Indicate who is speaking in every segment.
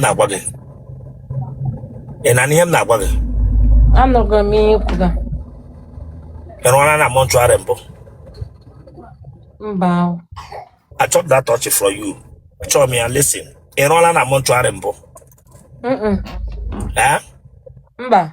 Speaker 1: na-agwa gị ị na-anụ ihe m na-agwa gị anụghị m ihe kwuga ị rụọla na mortuary mbụ mba ahụ achọ m that touch from you achọ m ya listen ị rụọla na mortuary mbụ Mm-mm. Eh? mba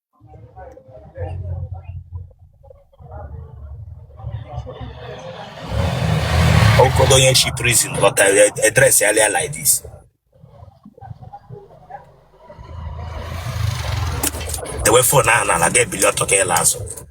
Speaker 1: Okodo onye shi prison lọ ka e dress earlier like this. Dewe phone ahụ n'ala ga-ebili ọtọ ka ị laa azụ.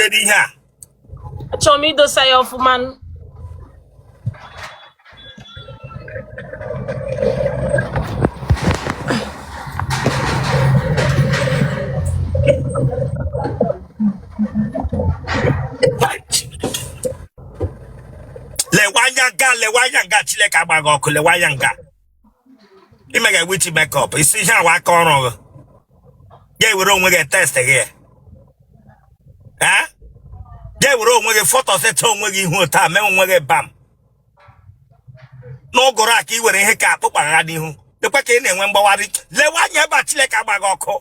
Speaker 1: Kedu ihe a? Achọrọ m idosa ya ọfụma. lewe anya nga lewe anya nga Chineke agba gị ọkụ lewe anya nga i mega witch makeup ị sị ihe a wụ aka ọrụ gị ga-ewere onwe gị test gị ya Eh? ga-ewere onwe gị foto seta onwe gị ihu otu a mee onwe gị bam n'ụgụrụ a ka ị were ihe ka akpụkpa ha n'ihu dịkwa ka ị na-enwe mgbawari lewe anya ebe a Chineke agba gị ọkụ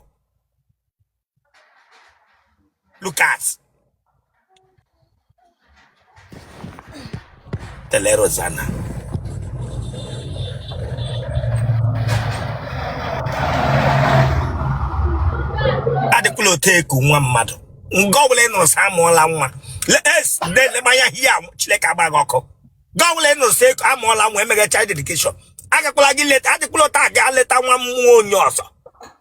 Speaker 1: Look at. Tele Rosanna. Adịkwala otu a eku nwa mmadụ. Nga ọbụla ị nụrụ sị amụọla nwa. Es na-eleba anya ihe a Chineke agba gị ọkụ. Nga ọbụla ị nụrụ sị eku amụọla nwa emega child dedication. Agakwala gị leta, adịkwala otu a gaa leta nwa nwa onye ọzọ.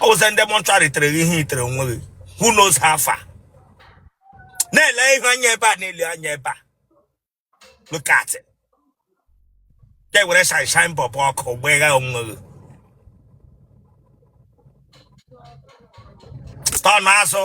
Speaker 1: ọ wụ sị ndị mortuary tere gị ihe i tere onwe gị who knows how far na-ele ihu anya ebe a na-ele anya ebe a look at it ga-ewere shine shine bulb ọkụ gbegha onwe gị turn azụ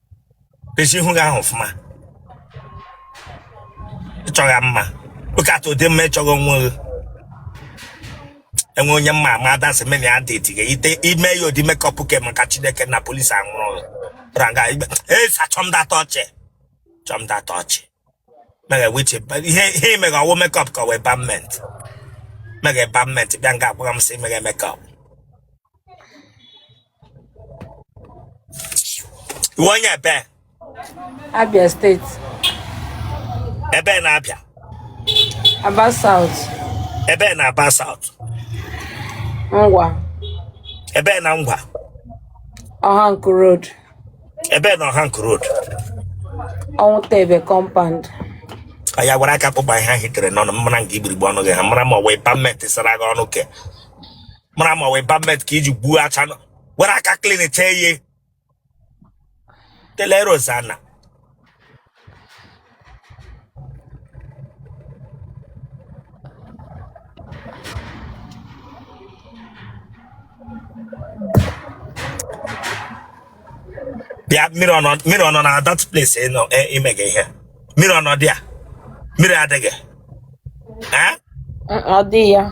Speaker 1: echi ihu gị ahụ ọfụma ịchọghị mma oke atụ ụdị mma ịchọghị onwe gị enwe onye mma ama adansi mena ya dị etighe ite i mee ya ụdị makeup ke maka chineke na police anwụrụ gị ranga igbe esa achọ m that touch achọ m that touch mega witch ihe ihe i mega ọ wụ makeup ka ọ wụ embalmment mega embalmment bịa nga agwara m sị mega makeup ị wụ onye ebee Abia steeti ebee na Abia Aba South ebee na Aba South Ngwa ebee na Ngwa Ọhanku Road ebee na Ọhanku Road Ọnwụta Ebe Compound ya were aka kpụgba ihe ahụ i tere n'ọnụ mara nke igbirigbe ọnụ gị ha mara ma ọ wụ pamenti sara gị ọnụ ke mara ma ọ wụ pament ka i ji gbuo acha nọ were aka klinchaa ihe telerozana bịa mmiri ọ nọ- mmiri ọ nọ na that place ị nọ e- ime gị ihe mmiri ọ nọ dị a mmiri adịghị Eh? Mm, ọ dị ya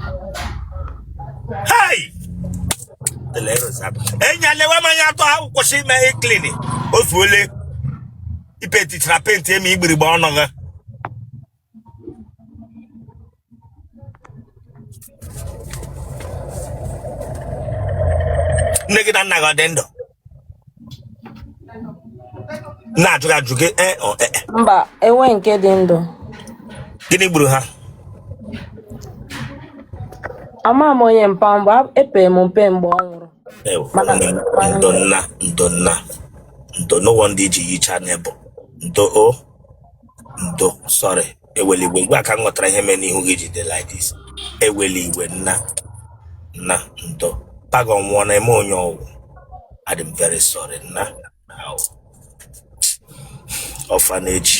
Speaker 1: Hey! Tele Rosario. Enya lewe m anya atọ ha kwụsị ime ihe klini otu ole i petichara penti emi igbirigbe ọnụ gị nne gị na nna gị ha dị ndụ na-ajụ gị ajụ gị ee ọ ee mba enwe nke dị ndụ gịnị gburu ha ama m onye mpa m bụ epere m mpe mgbe ọ nwụrụ Ewo, Mana- mana- ndo nna ndo nna ndo no wonder i ji yicha n'ebo ndo o ndo sorry ewela iwe mgbe a ka m ghọtara ihe mere n'ihu gị ji dị like this ewela iwe nna nna ndo paga ọnwụ na-eme onye ọ wụ adị m very sorry na ị wụ orphanage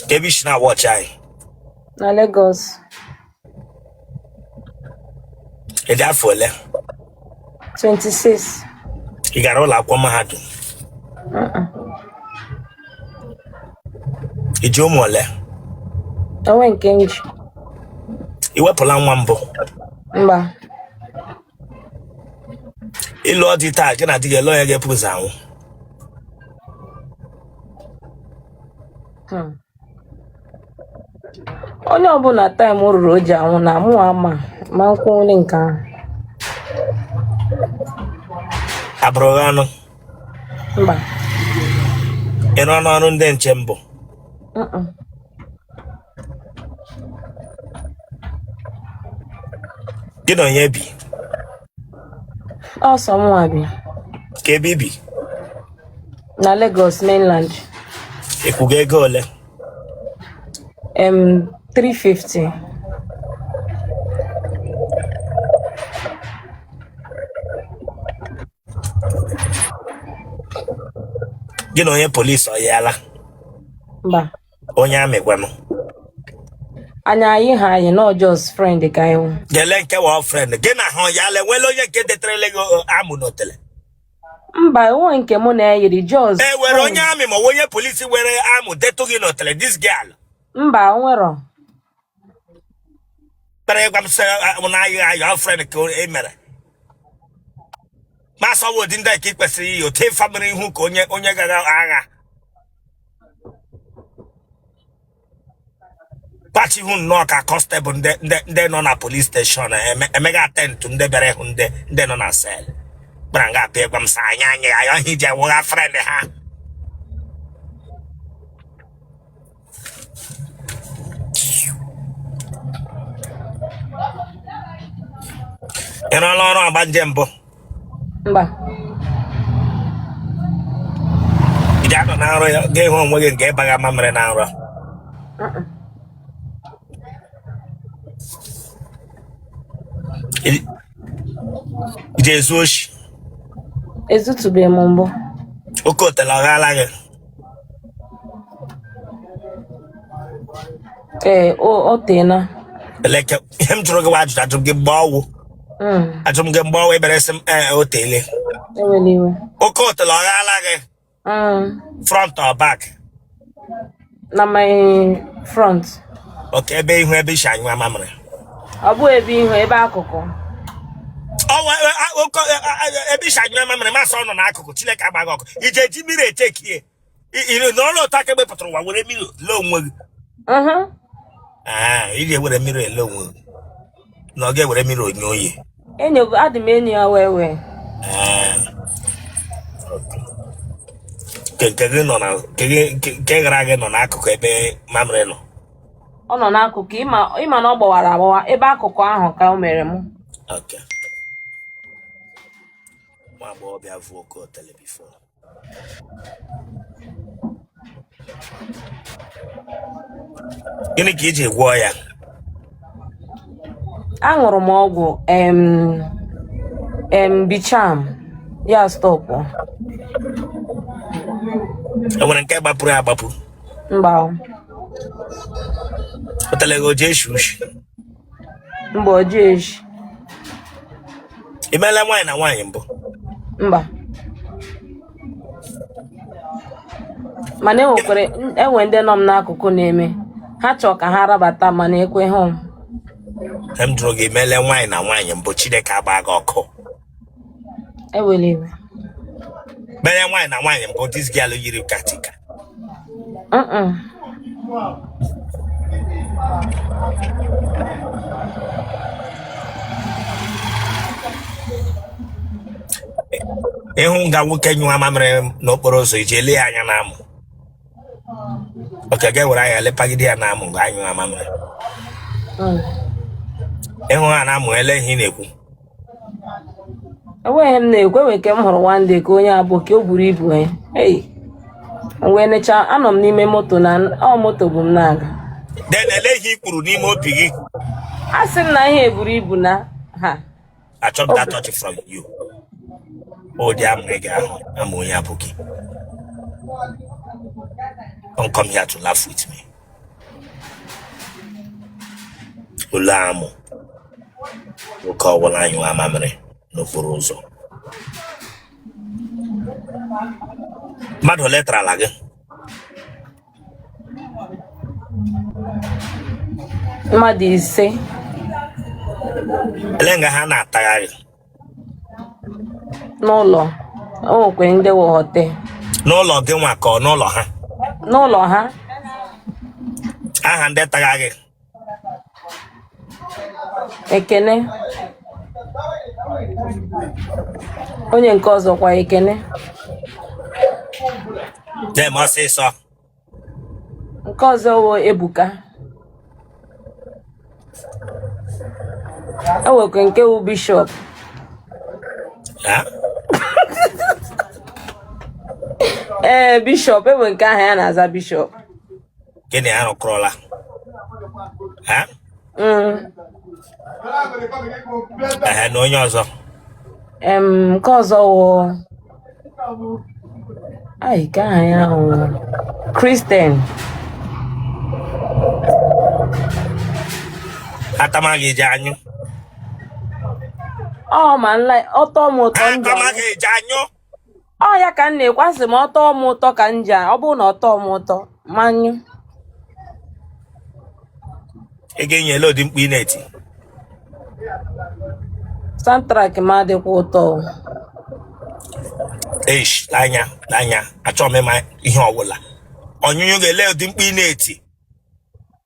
Speaker 1: kee ebe i si na-watch anyị na Lagos ị dị afọ ole 26 ị gara ụlọ akwụkwọ mahadum i ji ụmụ ole o nwe nke m ji i wepụla nwa mbụ mba ị lụọ di taa gị na di gị olee onye ga-epu ụzọ anwụ Hmm. onye ọbụla time ruru o ji anwụ na mụ ama ma nkwụnwụli nke ahụ abụrụ gị anụ mba ị rụọna ọrụ ndị nche mbụ Mm-mm. gị na onye bi ọ sọ mụnwa bi kee ebe i bi na Lagos mainland ị kwụga ego ole em 350 gị na onye polisi ọ yala mba onye army kwanụ anyị anyị ha anyị na ọ just friend ka anyị wụ gele nke wụ friend gị na ha yala e nwere onye nke detụrụla gị o, amụ n'otele mba enweghị nke mụ na ya yiri just e nwere onye army ma ọ bụ onye polisi were amụ detụ gị n'otele this girl mba o nwero kpere ịgwa m sị mụ na ayọ ayọ friend ka e mere ma asọwa ụdị ndị a ka ị kwesịrị iyi otu ịfa mere ihu ka onye onye gara agha pachi ihu nnọọ ka constable ndị ndị ndị nọ na police station eme- emega attend to ndị bịara ịhụ ndị ndị nọ na cell kpara nga apịa ịgwa m sị anyị anyị ayọ ihe i ji ewụgha friend ha ị rụọla ọrụ ọgbanje mbụ mba ị ga-anọ na nrọ ya ga-ahụ onwe gị nke ịbaghị ama mere na nrọ Ị- ị ga-ezu oshi ezutụbeghị m mbụ oke otele ọ ghaala gị ee o teela eleke ihe m jụrụ gị wụ ajụjụ ajụrụ gị mgbe ọ wụ Mm, ajụrụ m gị mgbe ọ wụ ebere sị m ee o teele ewela iwe oke otele ọ ghala gị Mm, front or back na my front okay ebe ihu ebe i si anyụ amamịrị ọ bụ ebe ihu ebe akụkụ ebe i si anyụ mamịrị m sị ọ nọ n'akụkụ Chineke agbaa gị ọkụ i je eji mirror echekie iri nọrọ otu a ka mgbe ị pụtara ụwa were mirror ele onwe gị Ee, ị ga-ewere mirror ele onwe gị na ọ ga-ewere mirror onye oyi enyo adị m enyi ya wee wee Ee, okay. nke nke gị nọ na nke gị- nke nke gara gị nọ n'akụkụ ebe mamịrị nọ ọ nọ n'akụkụ ị ma ị ma na ọ gbawara agbawa ebe akụkụ ahụ ka o mere mụ Okay. Nwa agbọghọbịa vu oke otele before. Gịnị ka i ji gwọọ ya? aṅụrụ m ọgwụ em em Beecham ya stop E nwere nke gbapụrụ agbapụ? mba pụtara gị o ji eshi ushi mba o ji eshi i mela nwaanyị na nwaanyị mbụ mba mana enwekwara enwe ndị nọ m n'akụkụ na-eme ha chọọ ka ha rabata mana ekweghị m m jụrụ gị i mele nwaanyị na nwaanyị mbụ chineke gbaa gị ọkụ ewela iwe mere nwaanyị na nwaanyị mbụ this girl yiri katika Mm-mm. ị hụ nga nwoke nyụwa mamịrị n'okporo ụzọ i ji ele ya anya n'amụ okay ị ga-ewere anya lepagide ya n'amụ mgbe ọ nyụwa mamịrị Mm. ị hụ ha n'amụ ele ihe ị na-ekwu enweghị ihe m na-ekwu enwe nke m hụrụ one day ka onye aboki o buru ibu ya i wee necha anọ m n'ime moto na ọ moto bu m na-aga then ele ihe i kwuru n'ime obi gị asị m na ihe a buru ibu na ha achọghị that touch from you ụdị amụ ị ga-ahụ amụ onye aboki don't come here to laugh with me ile amụ nwoke ọbụla nyụwa mamịrị n'okporo ụzọ mmadụ ole tarala gị mmadụ ise ele nga ha na-ata gị n'ụlọ o nwekwe ndị wụ hotel n'ụlọ gị nwa ka ọ n'ụlọ ha n'ụlọ ha aha ndị tara gị ekene onye nke ọzọ kwa ekene dem ọsịsọ nke ọzọ wụ ebuka enwekwa nke wụ bishop ee eh, bishop enwe nke aha ya na-aza bishop gị na ya arụkọrọla mm. na onye ọzọ nke ọzọ wụ IK aha ya wụ Christian a tama gị i ji anyụ ọ ma nla ọ tọọ m ụtọ m ji anyụ. a tama gị i ji anyụ ọ ya ka m na-ekwu asị m ọ tọọ m ụtọ ka m ji a- ọ bụrụ na ọ tọọ m ụtọ manyụ ị ga-enye ele ụdị mkpu ị na-eti soundtrack m adịkwa ụtọ o. eish n'anya n'anya achọghị m ịma ihe ọbụla ọnyụnyụ ga-ele ụdị mkpu ị na-eti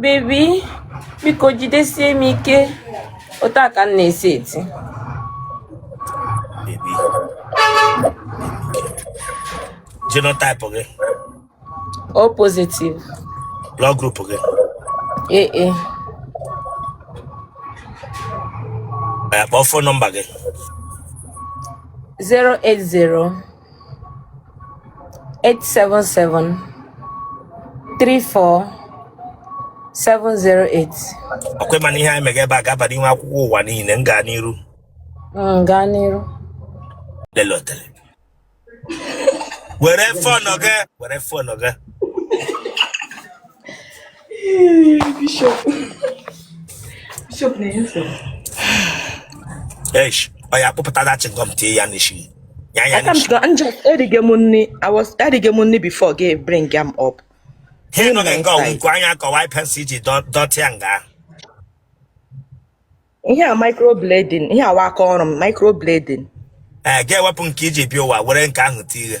Speaker 1: bebi biko jidesie m ike otu a ka m na-esi eti genotype gị O positive blood group gị ee e. kpọọ fon nọmba gị 080 877 34 708 ọkwa ị ma na ihe anyị mega ebe a ga-aba n'ihu akwụkwọ ụwa niile m gaa n'iru Mm, gaa n'iru lele otele were fon gị were fon gị Bishop. Bishop na-enye nsogbu. Eish, ọ ya kpụpụta dachi ngọm tie ya n'isi. Ya ya n'isi. I'm just erige m nri. I was erige m nri before gị bring am up. Ihe nọ na nga ọ wụ nku anya ka ọ wụ eye pencil i ji dọtịa nga. Ihe a microblading, ihe a wụ aka ọrụ m microblading. Ee, eh, ga-ewepụ nke i ji bịa ụwa were nke ahụ tie ihe.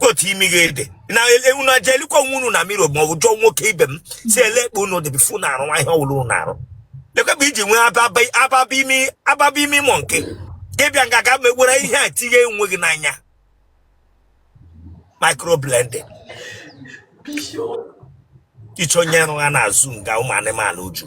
Speaker 1: otu imi gị a dị na ewu na aja elekwa onwe unu na mirror ma ọ bụ jụọ nwoke ibe m sị elee kpa unu dị before unu arụwa ihe ọ wụrụ unu arụ lekwa ebe i ji nwee ababa imi mọ nke ị bịa nga ga megwere ihe a tinye onwe gị n'anya microblending ị chọ onye rụgha na zoo nga ụmụ anụmanụ uju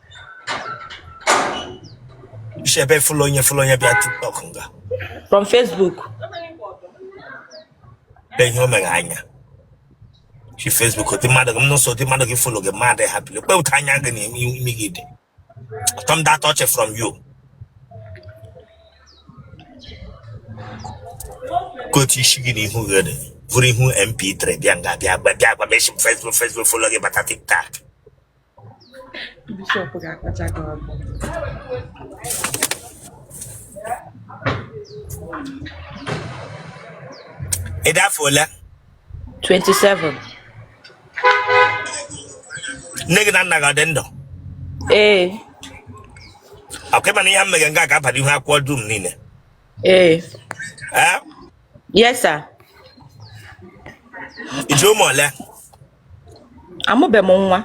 Speaker 1: si ebe fụlụ onye fụlụ onye bịa tiktok nga from facebook be ihe o mere anya si facebook dị mmadụ gị m nso dị mmadụ gị fụlụ gị mmadụ ha bili kpe otu anya gị na imi gị dị ụtọ m data ọchị from you ka otu isi gị na ihu gị dị bụrụ ihu mp3 bịa nga bịa gba bịa gba meshi facebook facebook fụlụ gị bata tiktok bishọp ga-akpacha gị ọgụ ị dị afọ ole 27 nne gị na nna gị ọ dị ndụ ee ọkwa ị ma na ihe m mere nga ga-abara ihu akwụkwọ dum niile ee ee yes sir i ji ụmụ ole amụbe m nwa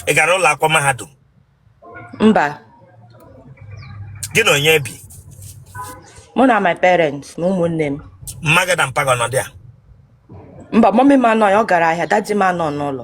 Speaker 1: ị gara ụlọ akwụkwọ mahadum mba gị na onye bi mụ na my parents na ụmụnne m mma gị na mpa gị ọ nọ dị ya mba mummy m anọ ya ọ gara ahịa daddy m anọ n'ụlọ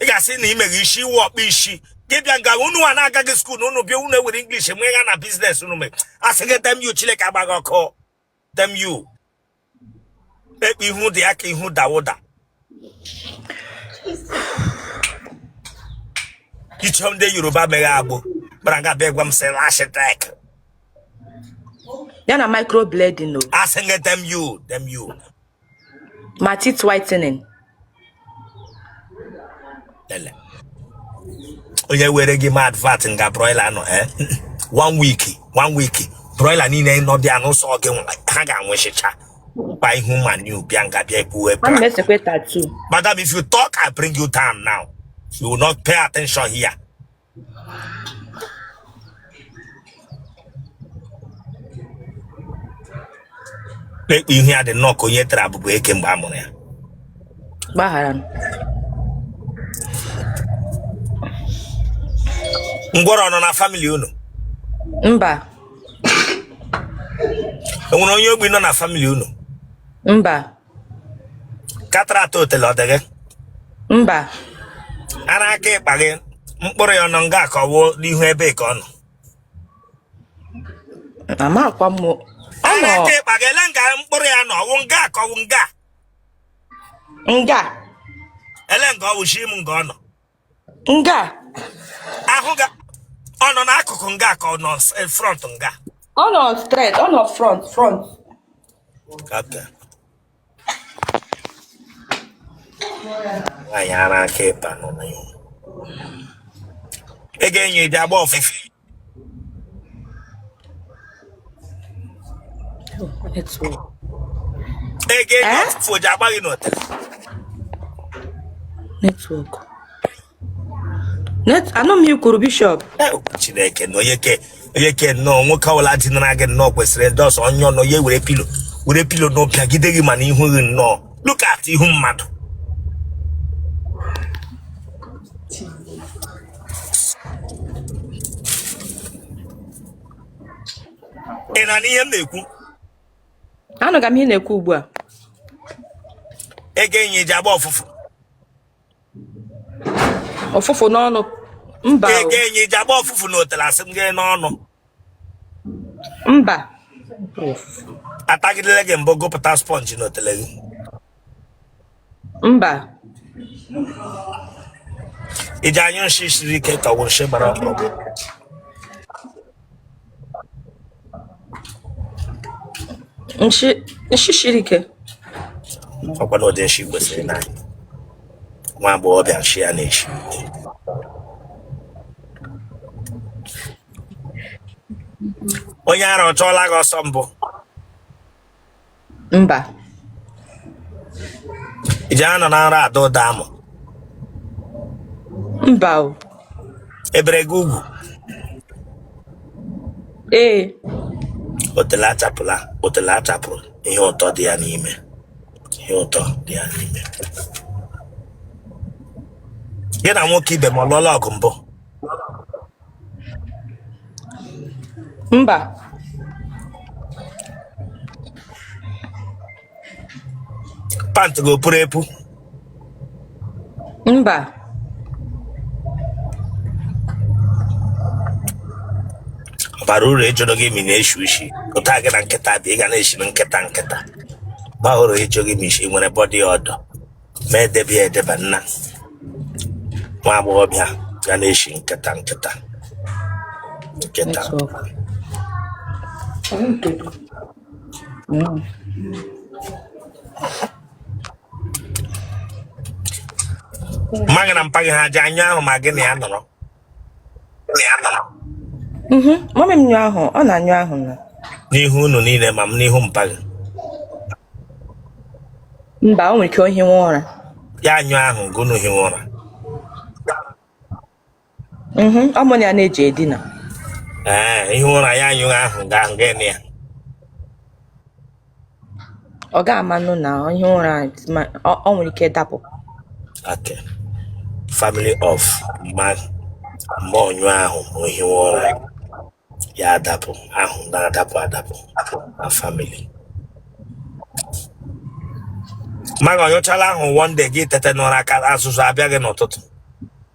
Speaker 1: ị ga-asị na imeghị isi iwe ọkpa isi gị bịa nga unu a na-agaghị school unu bịa unu ewere English enwe ya na business unu mee asị gị damn you Chineke agba gị ọkụ damn you ekpe ihu dị ya ka ihu Dauda ichom ndị Yoruba meghe agbụ kpara nga bịa gwa m sị lash tech ya na microblading o asị gị damn you damn you ma teeth whitening Ele. onye were gị mee advert nga broiler nọ eh? one week one week broiler niile nọ bịa n'ụsọ gị nwa, ha ga-anwụchicha gba ihu manu bịa nga bịa ekwuwe ana m bra esekwe tattoo madam if you talk i bring you down now you will not pay attention here ekpe ihu ya dị nnọọ ka onye tara abụba eke mgbe a mụrụ ya gbaghara m ngwọrọ ọ nọ na family unu mba enwere onye ogbi nọ na family unu mba katrat otele ọ dị gị mba ara aka ịkpa gị mkpụrụ ya ọnụ nga ka ọ wụ n'ihu ebe ka ọ nọ amakwa m ọ ara nọ aka ịkpa gị ele nga mkpụrụ ya nọ ọwụ nga ka ọwụ nga nga ele nga ọ wụ shi m nga ọ nọ nga ahụ ga ọ nọ n'akụkụ nga ka ọ nọ s- eh, front nga ọ nọ straight ọ nọ front front Okay. nwaanyị ara aka ịba nọ na ya ego enyi ji agba ọfụfụ ego enyi eh? ọfụfụ o ji agba gị n'ọtara network anọ m ikwuru bishop eh, chineke na onye ke onye ke nnọọ nwoke ọbụla dinara gị nnọọ kwesịrị ndị ọsọ onye ọ nọ ya were pillow were pillow na-apịagide gị mana ihu gị nnọọ look at ihu mmadụ ị na-anụ ihe m na-ekwu anụga m ihe ị na-ekwu ugbu a ego enyi ji agba ọfụfụ ọfụfụ n'ọnụ mba ego enyi ji agba ọfụfụ n'otele asị m gị n'ọnụ mba atagidela gị mbụ gụpụta sponge na otele gị mba ị ji anyụ nshi siri ike ka ọ wụ nshi gbara ọkụ nshi nshi siri ike ọkwa na ụdị nshi kwesịrị na nwa agbọghọbịa nshi ya na-eshi onye ara ọ chụọla gị ọsọ mbụ mba ị ji anọ na nra ada ụda amụ mba o e bere gị ugwu ee otele achapụla otele achapụrụ ihe ụtọ dị ya n'ime ihe ụtọ dị ya n'ime gị na nwoke ibe m ọ lụọla ọgụ mbụ mba pant gị o puru epu mba ọ bara uru ịjụrụ gị ma ị na-eshi ushi ụta gị na nkịta dị ị ga na-eshi na nkịta nkịta bara uru ịjụ gị ma i si nwere body odour ma e debe ya edebe nna nwa agbọghọbịa ga na-eshi nkịta nkịta nkịta Mm. mma gị na mpa gị ha ji anyụ ahụ ma gị na ya nọrọ Mhm. mọmị m nyụ ahụ ọ na-anyụ ahụ na n'ihu unu niile ma m n'ihu mpa gị mba o nwere ike o hiwe ụra ya anyụ ahụ gị unu hiwe ụra Mhm. ọ mụ na ya na-eji edina ee ihi ụra ya anyụghị ahụ gaa nga ya ọ ga amanụ na o hie ụra o nwere ike dapụ okay family of ma ma ọ nyụ ahụ ma o hie ụra ya adapụ ahụ na-adapụ adapụ na family mma gị ọ nyụchaala ahụ one day gị tete n'ụra azụzụ abịa gị n'ụtụtụ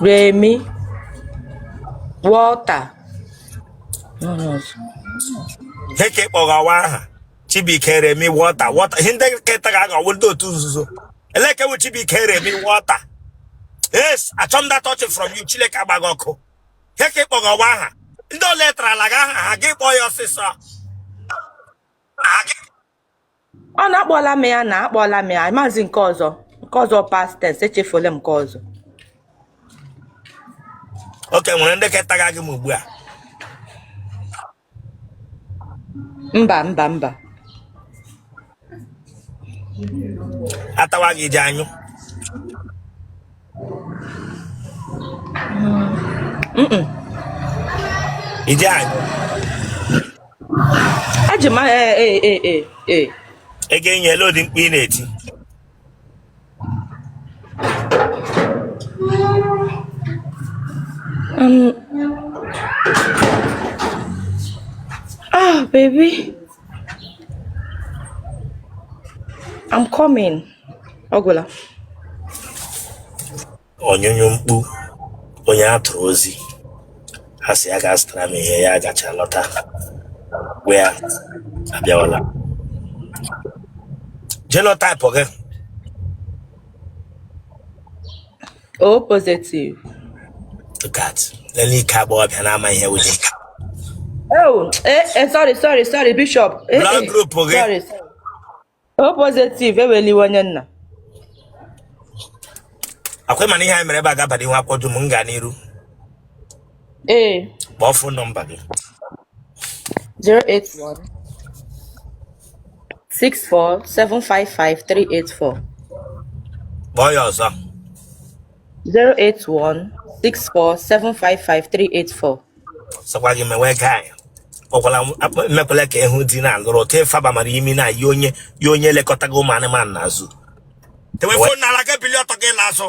Speaker 1: Remi Walter dịka ị kpọwa aha Chibuike Remi Walter Walter ihe ndị nkịta ga-aghọwo ndị otu nzuzo elekewu Chibuike Remi Walter yes achọ m that touch from you Chineke agba gị ọkụ ihe ka ị kpọwa aha ndị ole tarala gị aha ha gị kpọọ ya ọsịsọ ọ na-akpọla m ya na akpọla m ya maazị nke ọzọ nke ọzọ past tense echefuola m nke ọzọ okay nwere ndị ketaga gị m ugbu a mba mba mba atawa gị ji anyụ Ije anyị. Eji m ee ee ee ee ee. Ego enyi ele ụdị mkpu ị na-eti. Um, ah, baby. I'm coming. ọ gwụla onyụnyụ mkpu onye a tụrụ ozi a sị ya gaa zụtara m ihe ya gacha lọta gwa ya abịawala genotype gị o positive look at lelee ike agbọghọbịa na-ama ihe wụdị oh eh, eh, sorry sorry sorry bishop eh, Blood eh, group gị. sorry sorry O positive eweliwe onye nna. Ọkwa ịma na ihe anyị mere ebe a ga-abara ihu akwụkwọ dum m gaa n'iru. Ee. Kpọọ fon nọmba gị. 081 64 755 384. Kpọọ ya ọzọ. 08164755384 sọkwa gị mewe gaa ya ọgwala mekwala ka ịhụ di na-alụrụ otu ịfaba mara imi na ya onye ya onye elekọta gị ụmụ anụmanụ n'azụ tewe fon n'ala gaa bili ọtọ gị n'azụ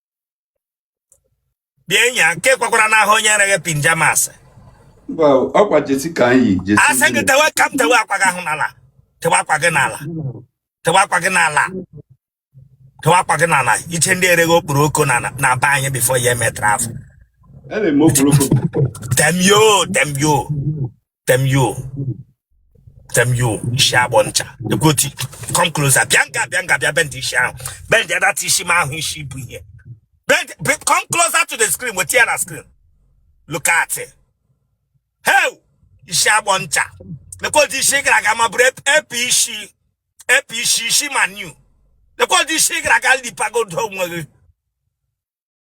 Speaker 1: bịa enyi a nke kwakwara n'ahụ onye nyere gị pinjamas Mba, ọkwa jersey ka anyị yi jersey asị gị tewe ka m tewe akwa gị ahụ n'ala tewe akwa gị n'ala tewe akwa gị n'ala tewe akwa gị n'ala iche ndị ereghị okporoko na na be anyị before ya emetara afọ Ana-eme okporoko temyo temyo tem yo tem yo isi agbọ ncha egoti come closer bịa nga bịa nga bịa bend isi ahụ bend ya data isi m ahụ isi bụ ihe bend be- come closer to the screen weta ya na screen look at it hey isi agbọ ncha lekwa ụdị isi ị gara aga ma bụrụ epe isi epe isi isi ma new lekwa ụdị isi ị gara aga lekpagodu onwe gị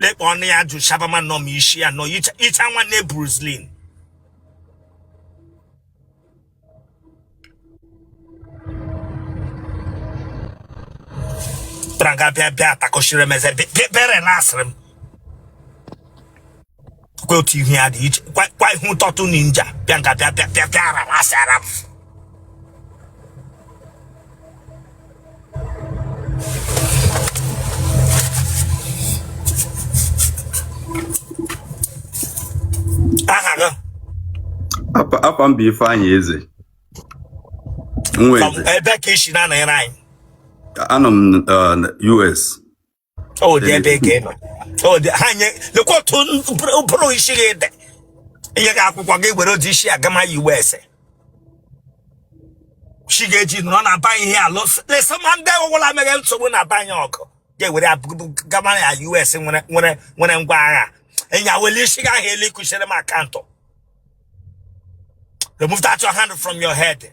Speaker 1: lekpa ọnụ ya jụ shabama nọ m isi ya nọ icha nwanne Bruce Lee pụtara nga bịa bịa atakọchiri m eze bere na asịrị m kwa otu ihu ya dị iche kwa kwa ihu tọtụ ninja bịa nga bịa bịa bịa bịa ara m asị ara m aha gị Afa- Afa m bụ Ifeanyị Eze. Nwa Eze. ebe ka i si na-anọnyere anyị Anọ m uh, US. ọ dị ebe ị ga-anọ ọ dị ha nye lekwa otu ụbụrụ isi gị dị enye gị akwụkwọ gị were otu isi agama ya iwe ese chi ga-eji nọrọ na ba ihe alụ lesa ma ndị ọgwụla mere nsogbu na banye ọgụ ga-ewere abụ- gama ya us nwere nwere nwere ngwa agha enyi a wele isi gị ahụ elu ịkụchiri m akaụntụ remove that your hand from your head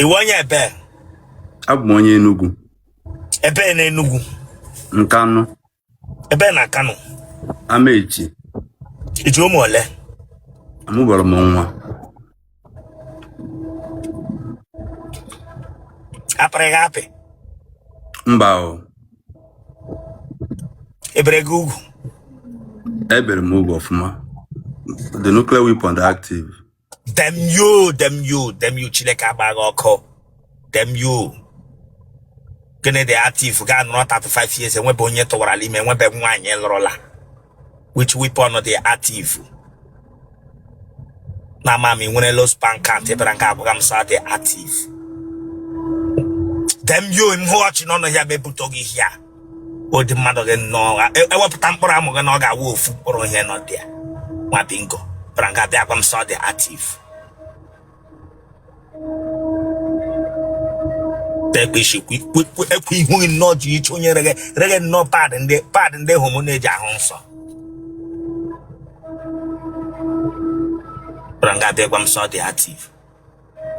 Speaker 1: ị wụ onye ebe abụ m onye Enugu ebe na Enugu Nkanụ ebe na Nkanụ Amaechi i ji ụmụ ole amụberọ m nwa a pịrị gị apị mba o e bere gị ugwu e bere m ugwu ọfụma the nuclear weapon dị active damn you damn you damn you chineke agba gị ọkụ damn you gịnị dị active ga-anọrọ 35 years enwebe onye tụwarala ime enwebe nwaanyị lụrụla which weapon dị active na ama m ị nwere low sperm count ị bịara nga agwaga m sị ọ dị active damn you m hụ ọchị n'ọnụ ya m ebutuo gị here ụdị mmadụ gị nnọọ e, ewepụta mkpụrụ amụ gị na ọ ga-awụ ofu mkpụrụ ihe nọ dị ya nwa bingo bịara nga bịa gwa m sị ọ dị active tekpishi ekwu ihu gị nnọọ ji iche onye rege rege nnọọ pad ndị pad ndị homo na-eji ahụ nsọ bịara nga bịa gwa m sị ọ dị active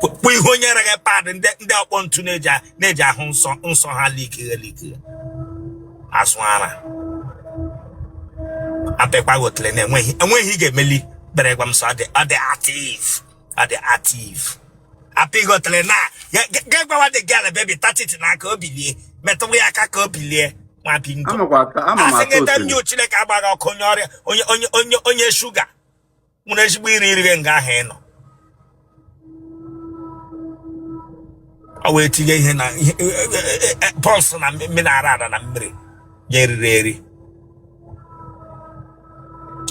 Speaker 1: kpụ ihe onye nyere gị pad ndị ndị ọkpọ ntu na-eji a- na-eji ahụ nsọ nsọ ha likighe likighe azụ ara apịkwa gị otele na enweghị enweghị ị ga-emeli kpere gwa m sị ọ dị ọ dị active ọ dị active apị gị otele na ga gwawa dị gị ala bebi touch it n'aka o bilie metụwa ya aka ka o bilie nwa bingo amakwa ata ama m asị ata gị tem otele jụ chineke agba gị ọkụ onye ọrịa onye onye onye onye shuga nwere ezigbo iri iri nga ahụ ị nọ ọ wee tinye ihe na ihe e, e, e, poison na mmiri ara ara na mmiri ya eriri eri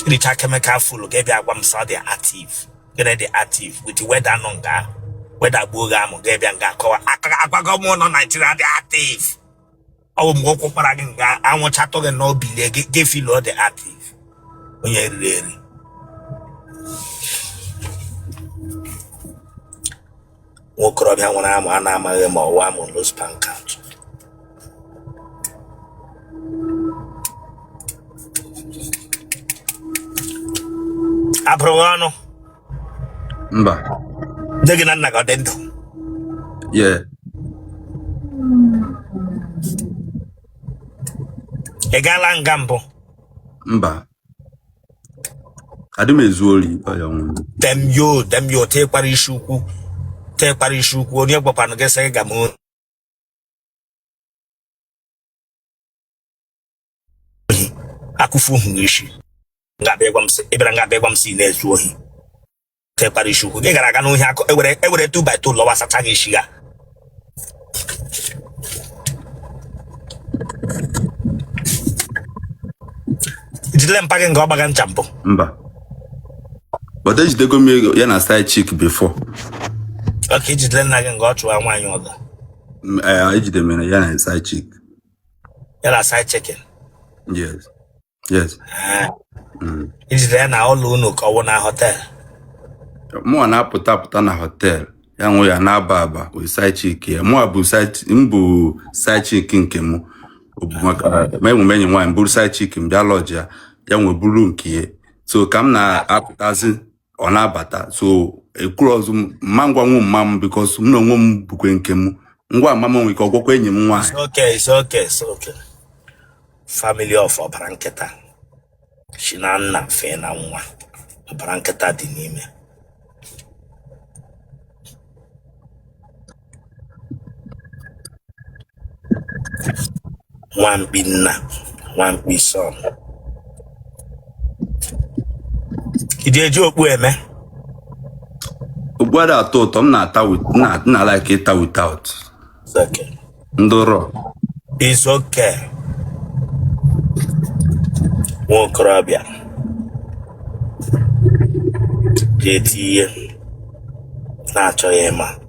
Speaker 1: richa chemical full ga bịa gwa m sị ọ dị active gịnị dị active with weather nọ nga ahụ weather gbuo gị amụ ga bịa nga akọwa agwago m nọ naijiria dị active ọwụ mgbe ọ kwụkwara gị nga anwụchatụ gị na o bilie gị gị filo dị ativ onye eriri eri nwokorobịa nwere amụ a na-amaghị ma ọ wụ amụ los pankant a bụrụ gị ọnụ mba nne gị na nna gị ọ dị ndụ yes ị gaala nga mbụ mba adị m ezu ori ọya nwụrụ damn you damn you tee kpara isi ukwu tee kpara isi ukwu onye gwakwanụ gị sị gị ga m ohi akụfu hụ isi nga bịa ịgwa m sị ị bịara nga bịa ịgwa m sị ị na-ezu ohi tekwara isi ukwu gị gara aga n'ohi akụ ewere ewere two by two lọwa sacha gị isi ya jidere mpa gị nga ọ gbaga ncha mbụ mba but ejidego m ego ya na side chick before ọ ka i jidere nna gị nga ọ chụwa nwaanyị ọzọ M- eh, ejidere m ya na side chick ya na side chick Yes. Yes. Eh, Mm. i jide ya na ụlọ unu ka ọ wụ na hotel Mụa na-apụta apụta na hotel ya nwe ya na-aba aba with side chick ya. Mụa bụ side chi- m bụ side chick nke m. Ọ bụ maka ma enwe m enyi nwaanyị m buru side chick m bịa lọjịa ya nwe buru nke ya. So ka m na-apụtazi ọ na-abata so ekwurozi m m ma agwanwu mma m because m na onwe m bukwe nke m m gwa mma m nwere ike ọ gwakwa enyi m nwaanyị It's okay, it's okay, it's okay. Family of ọbara nkịta si na nna fee na nwa ọbara nkịta dị n'ime nwamkpi nna nwamkpi son i ji eji okpu eme Okpu ada atọ ụtọ m na-ata wit- na- na like ịta without It's okay. ndị raw It's okay. nwa okorobịa ji eti ihe na-achọghị ịma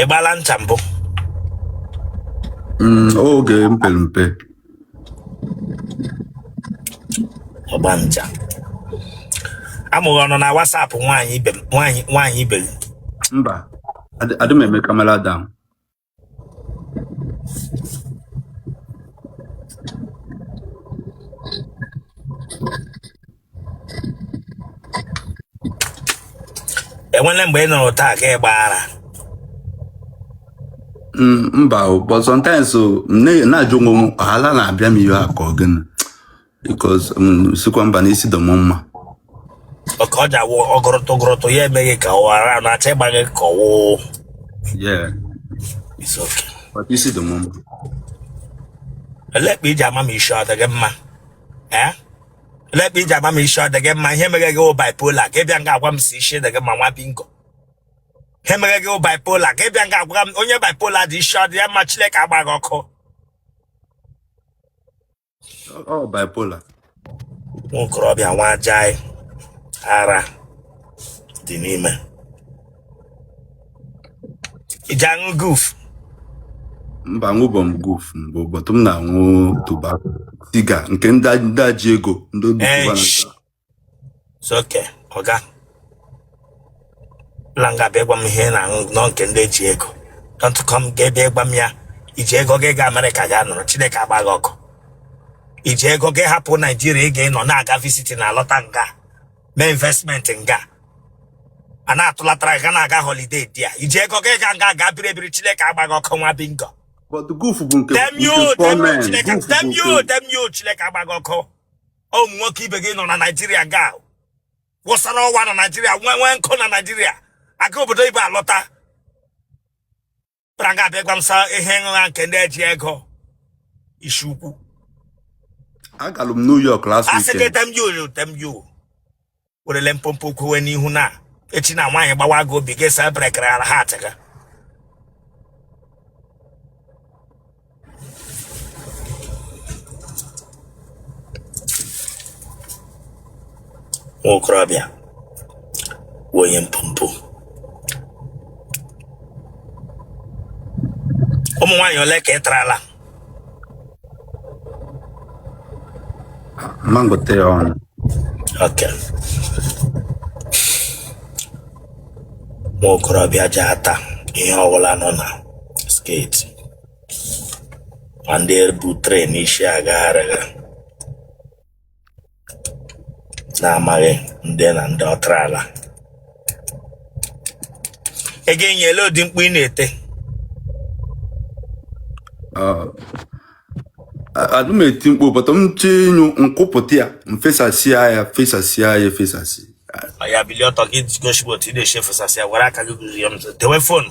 Speaker 1: ị gbala ncha mbụ Mm, oge m pere mpe ọgba ncha amụghị ọnụ na WhatsApp nwaanyị ibe m nwaanyị nwaanyị ibe gị mba adị adị m eme kamera down enwele mgbe ị nọrọ taa ka ị gbaa ara Mm, mba o, but sometimes o, m na- na-ajụ onwe m ala na-abịa m ihe a ka ọ gịnị because um, sikwa mba na isi dị m mma Ọka ọ ji awụ ọgụrụtụ gụrụtụ ya emee gị ka ọ ara na-achọ ịgba gị ka ọwụ yeah isi oke. but isi dị m mma Elekpa i ji ama ma isi ọ dị gị mma. Eh? Elekpa i ji ama ma isi ọ dị gị mma. Ihe mere gị wụ bipolar ka ị bịa nga agwa m sị isi dị gị mma nwa bingo. Ihe mere gị wụ bipolar ka ị bịa nga agwa m onye bipolar dị isi ọ dị ya mma Chineke agbaa gị ọkụ. ọ bipolar nwokorobịa nwa ajaị ara dị n'ime i ji aṅụ guf mba aṅụbọ m guf mbụ but m na-aṅụ Cuban siga nke ndị ndị a ji ego ndị Obi Ee, Cubana sh- soke ọga la nga bịa gwa m ihe ị na-aṅụ na ọ nke ndị ji ego don't come ga ebe gwa m ya iji ego gị ga amerịka ga nọrọ chineke agbaa gị ọkụ i ji ego gị hapụ naijiria ị ga-anọ na-aga visit na-alọta nga mee investment nga a na-atụlatara ga na-aga holiday there i ji ego gị ga nga ga biri ebiri chineke agbaa gị ọkụ nwa bingo but goof bụ nke damn nke you damn you gọọmenti chineke goof bụ damn you nke damn you chineke agbaa gị ọkụ ụmụ nwoke ibe gị nọ na naijiria ga wụsara ọwa na naijiria nwee nwee nkụ na naijiria aga obodo oyibo alọta bara nga abịa gwa m sị ihe nha nke ndị a ji ego isi ukwu agalụ m new york last asị gị weekend damn you damn you werele mpompo kwewe n'ihu na echi na nwaanyị gbawa gị obi gị saa brekere ala ha atịga nwa okorobịa bụ onye mpompo ụmụ nwaanyị ole ka ị tarala m ma-agụta ọnụ Okay. Nwa okorobịa ji ata ihe ọbụla nọ na skirt ma ndị a bu tray n'isi agagharịga na-amaghị ndị na ndị ọ tarala ị ga-anyụ elee ụdị mkpu ị na-eti adị m eti mkpu but m chee ịnyụ m kupụta ya m fesasịa ya fesasịa ya efesasị ya bilie ọtọ gị gosibo otu ị na-esi efesasị ya were aka gị gụzie m tewe fonu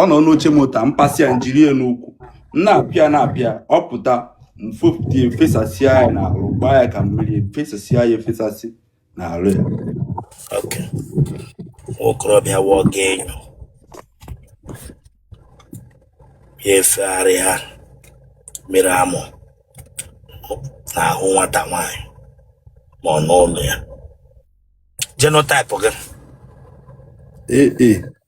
Speaker 1: ọ nọ n'oche moto a m pasị ya m jiri ya n'ukwu m na-apịa na-apịa ọ pụta m fopụta ya efesasịa ya n'ahụ gbaa ya ka mmiri efesasịa ya efesasị n'ahụ ya oke nwa okorobịa wụọ gị enyo ya efegharịa mmiri amụ n'ahụ nwata nwaanyị ma ọ n'ụlọ ya genotype gị ee ee